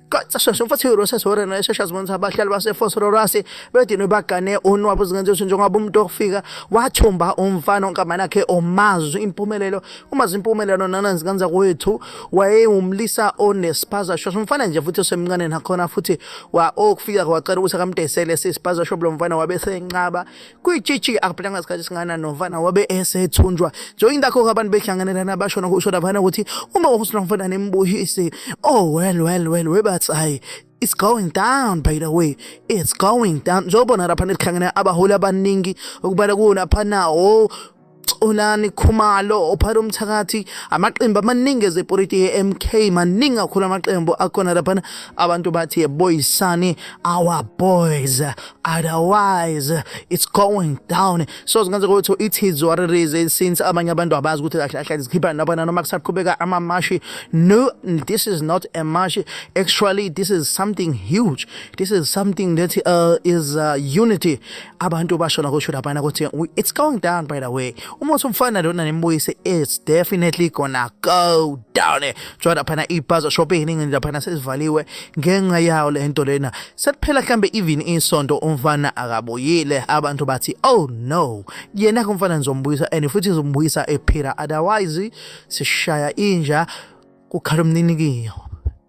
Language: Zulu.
Qasasha mfathi uRoses Warren eshesha zibonisa abahlali baseFosrorasi bedinwe bagane unwabu zingenziwe njengoba umuntu ofika wathumba umfana onkamana yakhe omazi impumelelo umazi impumelelo nananzi kanza kwethu wayewumlisa onespaza shosho umfana nje futhi osemncane nakhona futhi wa okufika kwacela ukuthi akamdesele sispaza shop lo mfana wabe senqaba kuyitshitshi akuphela ngasikhathi singana novana wabe esethunjwa joyini dakho abantu behlanganelana basho nokusho davana ukuthi uma uhusina mfana nembuhisi oh well well well webathi hayi It's going down by the way. It's going down. Njengoba lapha nelikhangene abaholi abaningi okubala kuwo lapha nawo Xolani Khumalo ophara umthakathi amaqembu amaningi ezepolitiki e-MK maningi kakhulu amaqembu akhona laphana abantu bathi yeboyisani our boys otherwise it's going down so zingenzeka ukuthi ithi zwaririze since abanye abantu abazi ukuthi kahle kahle zikhipha laphana noma kusaqhubeka amamashi no this is not a mashi actually this is something huge this is something that uh, is uh, unity abantu basho la kusho laphana ukuthi it's going down by the way uma usumfana lona nembuyise it's definitely gonna go down njengoba laphana ibhazo shop eyiningi laphana sesivaliwe ngenxa yawo le nto lena sekuphela mhlambe even isonto umfana akabuyile abantu bathi oh no yena kumfana ngizombuyisa and futhi ngizombuyisa ephila otherwise sishaya inja kukhala umninikiyo